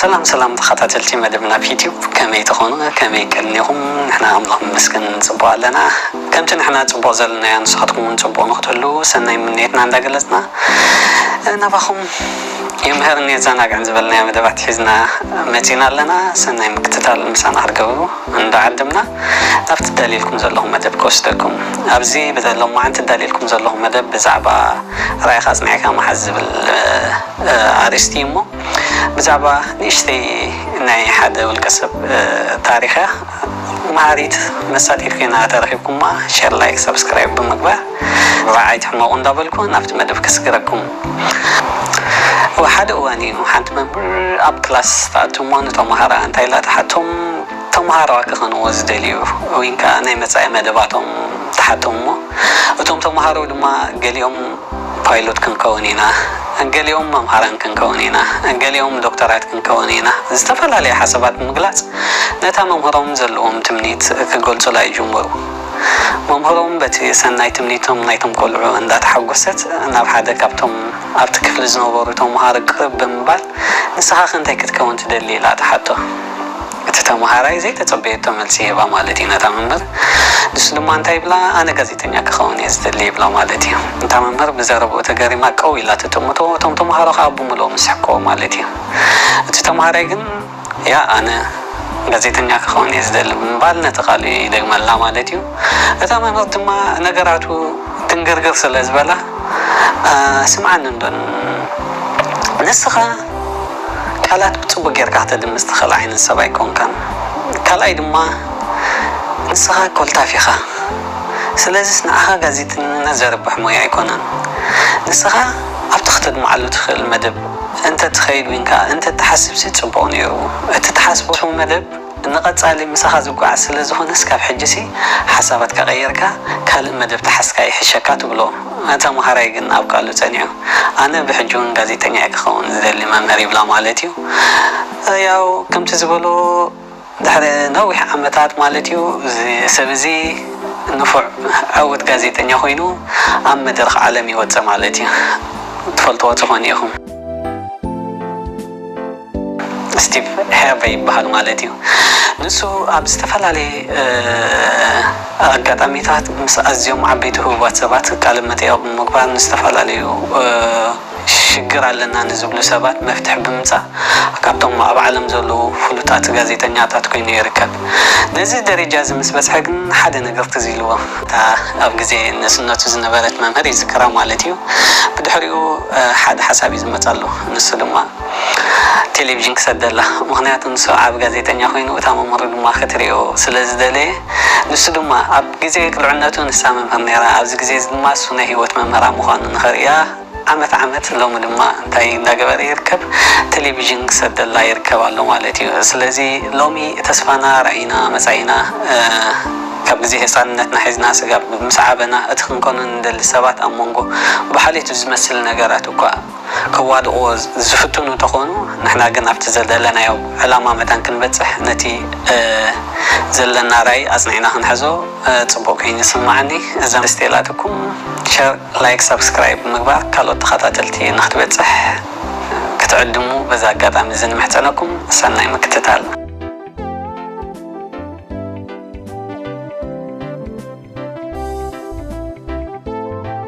ሰላም ሰላም ተኸታተልቲ መደብና ኣብ ዩትዩብ ከመይ ተኾኑ ከመይ ከኒኹም ንሕና ኣምላኽ ንመስገን ንፅቡቕ ኣለና ከምቲ ንሕና ፅቡቕ ዘለናዮ ንስኻትኩም እውን ፅቡቕ ንክትህልው ሰናይ ምንየትና እንዳገለፅና ናባኹም የምህርን የዘናግዕን ዝበልናዮ መደባት ሒዝና መፂና ኣለና ሰናይ ምክትታል ምሳና ክትገብሩ እንዳ ዓድምና ናብቲ እዳልየልኩም ዘለኹ መደብ ክወስደኩም። ኣብዚ ብሎማዓንቲ እዳልየልኩም ዘለኹ መደብ ብዛዕባ ራኢኻ ኣጽኒዕካ ምሓዝ ዝብል ኣርእስቲ እዩ እሞ ብዛዕባ ንእሽተይ ናይ ሓደ ውልቀ ሰብ ታሪኽ እያ መሃሪት መሳጢት ኮይና ተረኺብኩማ ሸር ላይክ ሳብስክራይብ ብምግባር ራዓ ኣይትሕመቑ እንዳበልኩ ናብቲ መደብ ከስግረኩም። ኣብ ሓደ እዋን እዩ ሓንቲ መምህር ኣብ ክላስ ትኣቱ እሞ ንተማሃሮኣ እንታይ ኢላ ትሓቶም ተማሃሮኣ ክኾንዎ ዝደልዩ ወይን ከኣ ናይ መጻኢ መደባቶም ትሓቶም እሞ እቶም ተማሃሮ ድማ ገሊኦም ፓይሎት ክንከውን ኢና ገሊኦም መምሃራን ክንከውን ኢና ገሊኦም ዶክተራት ክንከውን ኢና ዝተፈላለየ ሓሳባት ብምግላጽ ነታ መምህሮም ዘለዎም ትምኒት ክገልጹላ ይጅምሩ መምህሮም በቲ ሰናይ ትምኒቶም ናይቶም ቆልዑ እንዳተሓጎሰት ናብ ሓደ ካብቶም ኣብቲ ክፍሊ ዝነበሩ ተምሃሮ ቅርብ ብምባል ንስኻኸ እንታይ ክትከውን ትደሊ ኢላ ትሓቶ። እቲ ተምሃራይ ዘይተጸበየቶ መልሲ ይህባ ማለት እዩ ነታ መምህር። ንሱ ድማ እንታይ ይብላ ኣነ ጋዜጠኛ ክኸውን እየ ዝደሊ ይብላ ማለት እዩ። እታ መምህር ብዘረብኡ ተገሪማ ቀው ኢላ ትጥምቶ እቶም ተምሃሮ ከኣ ብምልኦም ይስሕቅዎ ማለት እዩ። እቲ ተምሃራይ ግን። እያ ኣነ ጋዜጠኛ ክኸውን እየ ዝደሊ ብምባል ነቲ ቃሉ ይደግመላ ማለት እዩ። እታ መምህር ድማ ነገራቱ ድንግርግር ስለ ዝበላ ስምዓኒ እንዶ ንስኻ ቃላት ብጽቡቕ ጌርካ ከተድምጽ ትኽእል ዓይነት ሰብ ኣይኮንካን ካልኣይ ድማ ንስኻ ኮልታፍ ኢኻ ስለዚስ ንዓኻ ጋዜጠኝነት ዘርብሕ ሞያ ኣይኮነን ንስኻ ኣብቲ ክተድምዓሉ ትኽእል መደብ እንተ ትኸይድ ግን ከኣ እንተ ትሓስብሲ ጽቡቕ ነይሩ። እቲ ትሓስቦ መደብ ንቐጻሊ ምሳኻ ዝጓዓዝ ስለ ዝኾነስ ካብ ሕጂሲ ሓሳባትካ ቀይርካ ካልእ መደብ ተሓዝካ ይሕሸካ ትብሎ። ተመሃራይ ግን ኣብ ቃሉ ጸኒዑ ኣነ ብሕጂውን ጋዜጠኛ'የ ክኸውን ዝደሊ መምህር ይብላ ማለት'ዩ። ያው ከምቲ ዝበሎ። ድሕሪ ነዊሕ ዓመታት ማለት'ዩ፣ እዚ ሰብ እዚ ንፉዕ ዕዉት ጋዜጠኛ ኮይኑ ኣብ መድረኽ ዓለም ይወጽእ ማለት'ዩ። ትፈልጥዎ ትኾኑ ኢኹም። ስቲቭ ሄርቨይ ይበሃል ማለት'ዩ። ንሱ ኣብ ዝተፈላለየ ኣጋጣሚታት ምስ ኣዝዮም ዓበይቲ ህቡባት ሰባት ቃለ-መጠይቕ ብምግባር ንዝተፈላለዩ። ሽግር ኣለና ንዝብሉ ሰባት መፍትሒ ብምምጻእ ካብቶም ኣብ ዓለም ዘለዉ ፍሉጣት ጋዜጠኛታት ኮይኑ ይርከብ። ነዚ ደረጃ'ዚ ምስ በጽሐ ግን ሓደ ነገር ትዝ ኢልዎ። እታ ኣብ ግዜ ንእስነቱ ዝነበረት መምህር ይዝክራ ማለት እዩ። ብድሕሪኡ ሓደ ሓሳብ እዩ ዝመጻሉ። ንሱ ድማ ቴሌቪዥን ክሰደላ። ምኽንያቱ ንሱ ዓቢ ጋዜጠኛ ኮይኑ እታ መምህሩ ድማ ክትርእዮ ስለ ዝደለየ። ንሱ ድማ ኣብ። ግዜ ቅልዕነቱ ንሳ መምህር ነይራ ኣብዚ ግዜዚ ድማ እሱ ናይ ሂወት መምህራ ምዃኑ ንኸርእያ ዓመት ዓመት ሎሚ ድማ እንታይ እንዳገበረ ይርከብ ተሌቪዥን ክሰደላ ይርከብ ኣሎ ማለት እዩ ስለዚ ሎሚ ተስፋና ራኢና መጻኢና ካብ ግዜ ህጻንነትና ሒዝና ስጋብ ምስ ዓበና እቲ ክንኮኖ ንደሊ ሰባት ኣብ ሞንጎ ብሓልዮት ብዝመስል ነገራት እኳ ከዋድቕዎ ዝፍትኑ እንተኾኑ ንሕና ግን ኣብቲ ዘደለናዮ ዕላማ መታን ክንበጽሕ ነቲ ዘለና ራኢ ኣጽኒዕና ክንሕዞ ጽቡቕ ከይኑ ይስምዓኒ እዛ ምስ ጤላትኩም ሸር ላይክ ሳብስክራይብ ብምግባር ካልኦት ተኻታተልቲ ንክትበጽሕ ክትዕድሙ በዚ ኣጋጣሚ እዚ ንምሕጸነኩም ሰናይ ምክትታል።